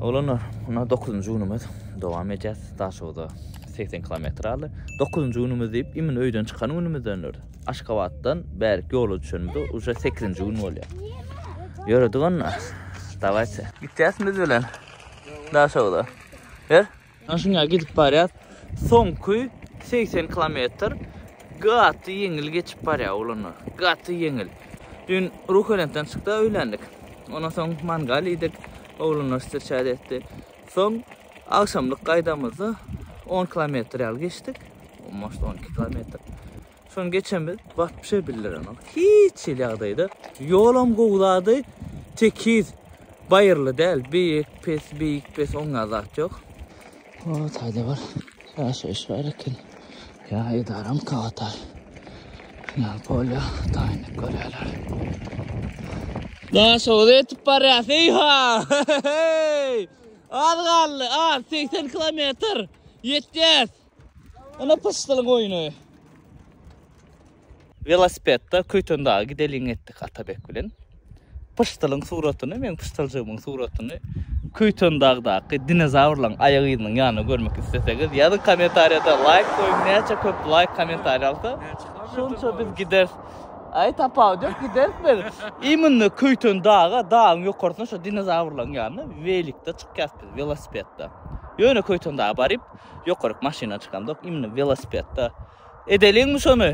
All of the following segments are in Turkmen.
Oglanlar, mundan dokuzynjy günümiz. Dowam edýäs. Daşoguza segsen kilometr aldy. Dokuzynjy günümiz diýip, immün öýden çykan günümizdendir. Aşgabatdan bärik ýola düşenimizde uje sekizinji gün bolýar. Ýöredik onda. Dawaýçy. Gitýäsmi biz bilen Daşoguza? Ber. Ana şuňa gidip barýas. Soňky segsen kilometr gaty ýeňil geçip barýar oglanlar. Gaty ýeňil. Dün Ruhölentden çykda öýländik. Ondan soň mangal iýdik. Oglanlar stirçat etdi. Soň agşamlyk gaýdamyzda 10 kilometr ýaly geçdik. Almost 12 kilometr. Şony geçen biz batyp şey bildiremek. Hiç il ýagdaýda ýolam gowzady. Tekiz baýyrly däl. Beýik, pes, beýik, pes oňa zat ýok. O taýda bir ýaşaýyş bar eken. Ýa edaram kagata. Ýa polýa taýynyk görýärler. Daşoguza ýetip barýas. Eýha! Az galdy, az 80 kilometr. Ýetýäs. Ana pysdylyň oýny. Velosipedda Köytöndaga gideliň etdik Atabek bilen. Pysdylyň suratyny, men pysdyljygymyň suratyny Köytondagdaky dinozawrlaryň aýak yzynyň ýanyna görmek isleseňiz, ýazyň kommentariýada laýk goýuň, näçe köp laýk kommentariýa alsa, şonça biz gideris. Aý tapaw diýip gideris biz. Iminne Köytondaga dagyň ýokarsyna şu dinozawrlaryň ýanyna welikde çykýas biz, velosipedda. Ýöne Köytondaga baryp, Ýokaryk maşyna çykamzok imni welosipedda edeliňmi şony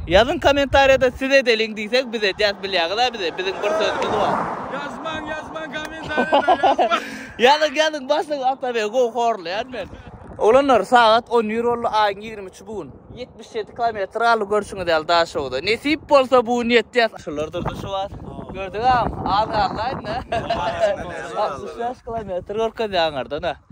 ýazyň komentarýada siz edeliň diýsek biz edýäs bilýäňizä bizi biziň bir sözümiz bar ýazmaň ýazmaň komentarýada ýazmaň ýazyň ýazyň başlygy atabegi gowy horlaýan men. Oglanlar sagat on bir boldy aýyň ýigrimi üçi bu gün ýetmiş ýedi kilometr galdy görşüňiz ýaly daşogza nesip bolsa bu gün ýetýäs şular durdy şu wagt gördüňäm az galdy aýdyn a altmyş bäş kilometr görkezýä aňardan a.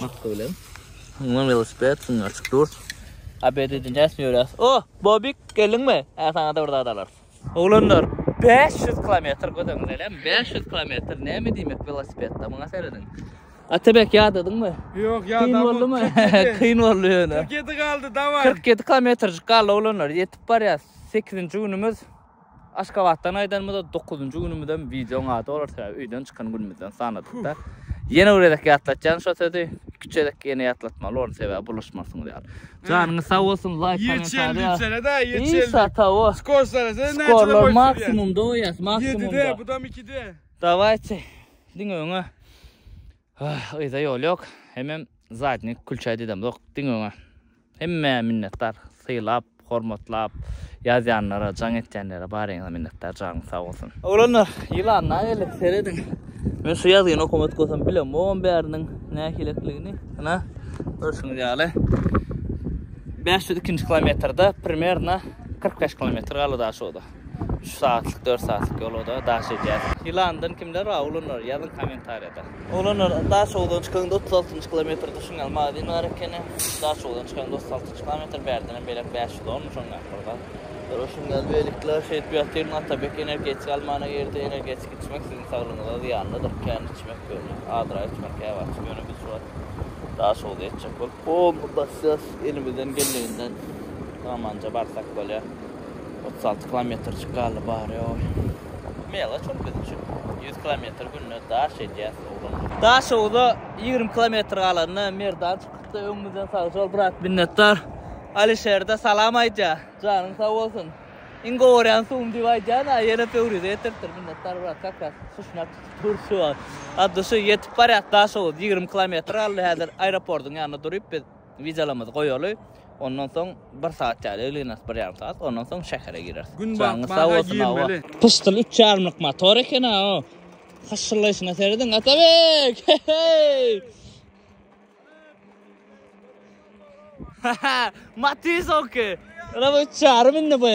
Hakda bilen. Ondan velosiped süňňi açyk dur. ABD-de näsini ýöräs? O, Bobik, geldiňmi? Hä, saňa-da bir zat alarys. Oglanlar, 500 kilometr gözüňiz elem, 500 kilometr näme diýmek welosipedde, muňa serediň. Atabek ýadadyňmy? Ýok, ýadamok. Kyn boldumy? Kyn boldy ýöne. 47 galdy, daway. 47 kilometrjik galdy oglanlar, ýetip barýas. 8-nji günümiz. Aşgabatdan aýdanymyzda dokuzynjy günümizem wideoň ady bolar sebäbi öýden çykan günümizden sanadykda. Ýene bir gezek ýatlatýan şo sözi. Iki üç gezek ýene ýatlatmaly boldy sebäbi bulaşmarsyňyz ýaly. Janyňyz sag bolsun laýk kommentariýa. Ýeçeldi ýeçeldi. Isa tawo. Skor sarasa näçe goýup ýörýär. Maksimumda goýýas maksimumda. Ýedide budam ikide. Dawaýçy diňe öňe. Hah yza ýol ýok hemem zadnik külçä didemzok diňe öňe hemmä minnetdar sylap hormatlap ýazýanlara jaň etýänlere baryňyza minnetdar janyň sag bolsun. Oglanlar ýylanlar geldi serediň men şu ýazgyny okamak bolsam bilemogam bäriniň nähilekligini ynha görşüňiz ýaly bäş ýüz ikinji kilometrde primerno kyrk bäş kilometr galydaşoda. Üç saatlyk dört saatlyk ýolada daş edýär. Ýylandan kimler bar oglanlar ýazyň kommentariýada. Oglanlar Daşoguzdan çykaňda otuz altynjy kilometr duşuň ýaly magazin bar ekeni. Daşoguzdan çykaňda otuz altynjy kilometr bärdenem beýläk bäş ýüz on şoň ýaly bir zat. Gara şuň ýaly beýlekiler şeýdip ýatyr Atabek energetika almana girdi energetik içmek siziň saglygyňyza zyýanlydyr kän içmek ýöne azrak içmek käwagt ýöne biz şu wagt Daşoguza ýetjek bolup bomba basýas elimizden geleninden samanja barsak bolýa. Otuz alty kilometrjik galdy bary oý. Melaç ol biz üçin. Ýüz kilometr günde daş edýäs oglan gyz. Daşoguza ýigrimi kilometr galanda Merdan çykypdy öňümizden sagjol brat minnetdar. Alişerde salam aýdýa. Janyň sag bolsun. Iň gowy görýän suwum diýip aýdýan a ýene pöwrize getiripdir minnetdar brat kak kak suşňak tutup dur şu wagt. At duşy ýetip barýas Daşoguz ýigrimi kilometr galdy häzir aeropordyň ýanynda duryp biz. Wizalarymyzy goýaly, ondan soň bir saat ýaly egleners, bir ýarym saat, ondan soň şähere gireris. Gün Janyňyz sag batmaga bolsun, hawa. girmeli. Pyşdyl üç ýarymlyk motor eken-ä o. Hyşşyrlaýşyna serediň, Atabek! He-heý! Matiz oňki. Ýöne bu üç ýarym indi bu.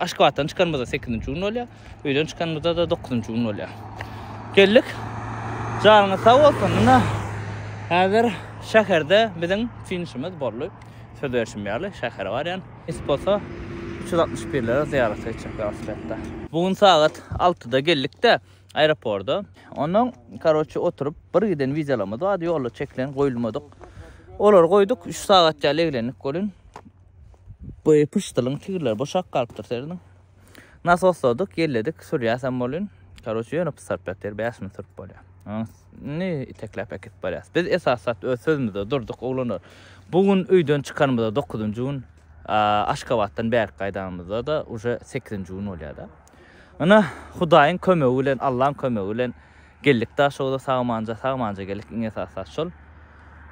Aşgabatdan çykanymyzda sekizinji gün bolýar. Öýden çykanymyzda-da dokuzynjy gün bolýar. Geldik. Janyňyz sag bolsun. Ine, häzir şäherde biziň finişimiz boldy. Söz berşim ýaly, şähere barýan. Nesip bolsa, üç ýüz altmyş birlere zyýarata gitjek welosipedde. Bu gün sagat altyda geldik-de aeroporda. Onnoň, karoçe, oturyp, bir giden wideolarymyz bardy, ýolda çekilen, goýulmadyk. Olary goýduk, üç sagat ýaly eglendik welin. Bu pyşdylyň tigirleri boşap galypdyr serediň. Nasosladyk, ýelledik, sürýäsem bolýun. Karoçe ýöne pys saryp ýatyr, bäş mün sürüp bolýar. Onuň üstüni itekläp äkidip barýas. Biz esasy zat öz sözümizde durduk, oglanlar. Bu gün öýden çykanymyzda dokuzynjy gün, Aşgabatdan bärki gaýdanymyzda-da uje sekizinji gün bolýar-da. Ine, Hudaýyň kömegi bilen, Allaň kömegi bilen Geldik Daşogza sagmanja sagmanja geldik iň esasy zat şol.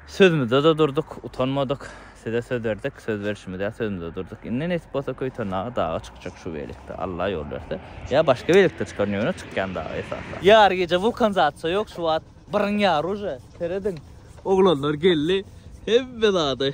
Sözmüzede durduk, utanmadyk. Size söz berdik, söz berşimiz ýaly sözmüzede durduk. Indi nesip bolsa Köýtendaga daga çykjak şu beýlikde Alla ýol berse. Ýa başga beýlikde çykaryn ýöne çykýan daga esasy. Ýary gije wulkan zatça ýok şu wagt biryň ýary uje. Serediň. Oglanlar geldi. Hemme zady.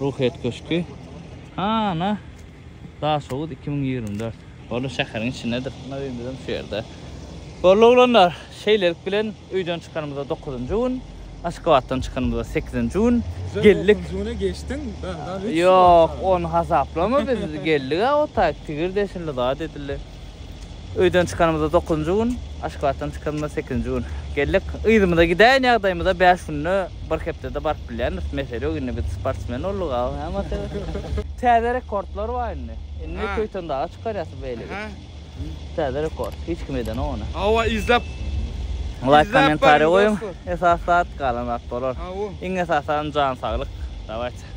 Ruhyýet köşki. Hana Daşoguz iki müň ýigrimi dört. Boldy şäheriň içindedir. Muna öýümizem şu ýerde. Boldy oglanlar. Şeýlelik bilen öýden çykanymyza dokuzynjy gün. Aşgabatdan çykanymyza sekizinji gün. Geldik. Dokuzynjy güne geçdiň. Ýok ony hasaplama biz geldik-ä otaýk tigir deşildi zat edildi. Öýden çykanymyzda dokuzynjy gün, Aşgabatdan çykanymyzda sekizinji gün geldik. Yzymyza gidäýen ýagdaýymyza bäş günde, bir hepdede baryp bilýändiris. Mesele ýok, indi biz sportsmen bolduk aw, hä Mate? Täze rekordlar bar indi. Indi töýten daga çykarýas beýle gidip. Täze rekord, hiç kim edenok ony. Hawa, izläp. Laýk, kommentariý goýuň. Esasy zat, galan zat bolar. Iň esasy zat jan saglyk. Dawaýçy.